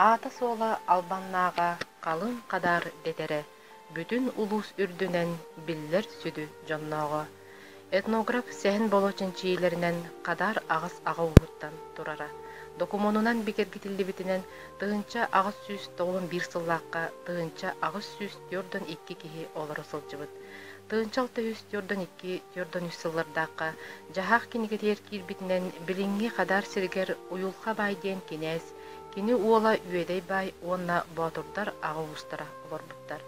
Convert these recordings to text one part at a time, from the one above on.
Аата-суола Албаннааҕа Халыҥ Хадаар дэтэрэ бүтүн улуус үрдүнэн биллэр сүдү дьоннооҕо, этнограф Сэһэн Боло чинчийиилэринэн Хадаар аҕыс аҕа ууһуттан турара докумуонунан бигэргэтиллибитинэн тыһыынча аҕыс сүүс тоҕус биир сыллаахха тыһыынча аҕыс сүүс түөртөн икки киһи олоро сылдьыбыт тыһыынча алта сүүс түөртэн икки түөртэн үс сыллардаахха дьаһаах кинигэтигэр киирбитинэн билиҥҥи Хадаар сиригэр Уйулха баай диэн кинээс Кини уола Үөдэй Баай уонна боотурдар аҕа уустара олорбуттар.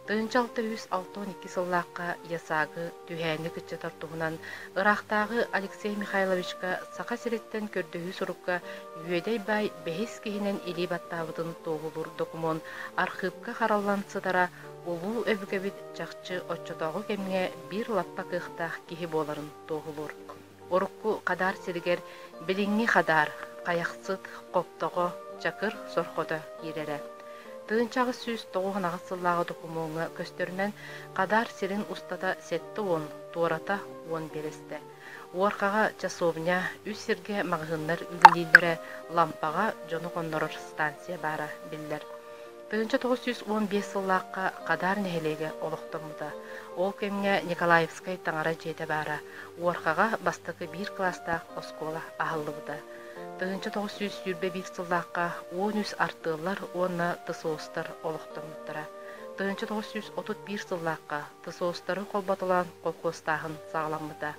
Тыһыынча алта үс алтан икки сыллаахха ЯСАГы түһээнньик ыччатар туһунан ыраахтааҕы Алексей Михайловичка Саха сириттэн көрдөһүү сурукка Үөдэй Баай бэһис киһинэн илии баттаабытын туоһулуур докумуон архыыпка хараллан сытара улуу өбүгэбит чахчы оччотооҕу кэмҥэ биир лаппа кыахтаах киһи буоларын туоһулуур. Урукку хадаар сиригэр билиҥҥи хадаар, Хайахсыт, Хоптоҕо, Чакыр сорхото киирэрэ. Тыынчаҕыс сүүс тоҕуһунаҕыс сыллааҕы докумуоҥҥа көстөрүнэн, хадаар сирин устата сэттэ уон, туората уон биэрэстэ. Уорҕаҕа часовня, үс сиргэ маҕаһыыннар үлэлииллэрэ, лампаҕа дьону хоннорор станция баара биллэр. Тыһыынча тоҕус сүүс уон биэс сыллаахха Хадаар нэһилиэгэ олохтоммута. Ол кэмҥэ Николаевскай таҥара дьиэтэ баара. Уорхаҕа бастакы биир кылаастаах оскуола аһыллыбыта. Тыһыынча тоҕус сүүс сүүрбэ биир сыллаахха уон үс артыаллар уонна ТСОСтар олохтоммуттара. Тыһыынча тоҕус сүүс отут биир сыллаахха ТСОСтары холботолоон колхуостааһын саҕаламмыта.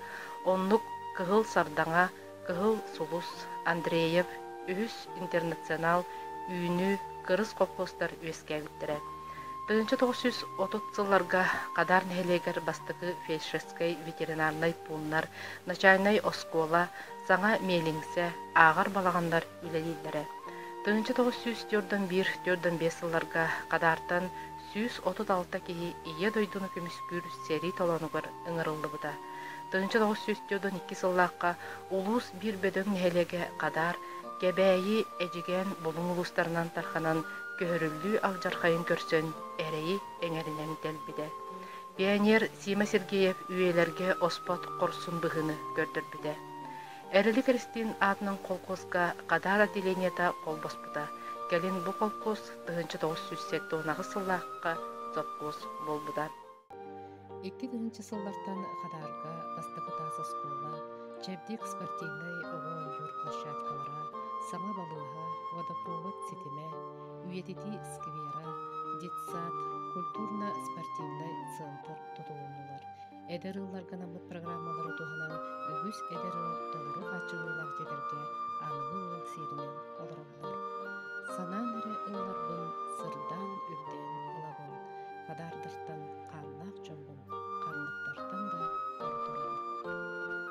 Оннук Кыһыл Сардаҥа Кыһыл сулус, Андреев, үһүс интернационал үүнүү кырыс колхозтар үөскээбиттэрэ. Тыһыынча тоҕус сүүс отут сылларга Хадаар нэһилиэгэр бастакы фельдшерскэй ветеринарнай пууннар, начальнай оскуола, саҥа миэлиҥсэ, ааҕар балаҕаннар үлэлииллэрэ. Тыһыынча тоҕус сүүс түөрт он биир түөрт он биэс сылларга Хадаартан сүүс отут алта киһи Ийэ дойдуну көмүскүүр сэрии толоонугар ыҥырыллыбыта. Тыһынча тоҕус сүүс түөртэн икки сыллаахха улуус биир бөдөҥ нэһилиэгэ Хадаар, Кэбээйи, Эдьигээн Булуҥ улуустарынан тарҕанан көһөрүллүү алдьархайын көрсөн эрэйи эҥэринэн тэлбитэ. Пионер Сима Сергеев үйэлэргэ оспот хорсун быһыыны көрдөрбүтэ. Эрили Кристин аатынан колхозга Хадаар отделениета холбоспута. Кэлин бу колхоз тыһынча тоҕус сүүс сэттэ уон аҕыс сыллаахха совхоз буолбута. Икки тыһыынча сыллартан Хадаарга бастакы таас оскуола, чэбдик спортивнай оҕо ойуур площадкалара, саҥа балыыһа, водопровод ситимэ, үйэтитии сквера, детсад, культурно-спортивнай центр тутуһуннулар. Эдэр ыылларга анаммыт программалары туһанан үгүс эдэр ыал толору хааччыллыылаах дьиэлэргэ аныгы ыал сиэринэн олороллор. санаан эрэ ылларбын сырдаан үрдээн ылабын хадаардартан хааннаах дьоммун ханныктартан да ордуробун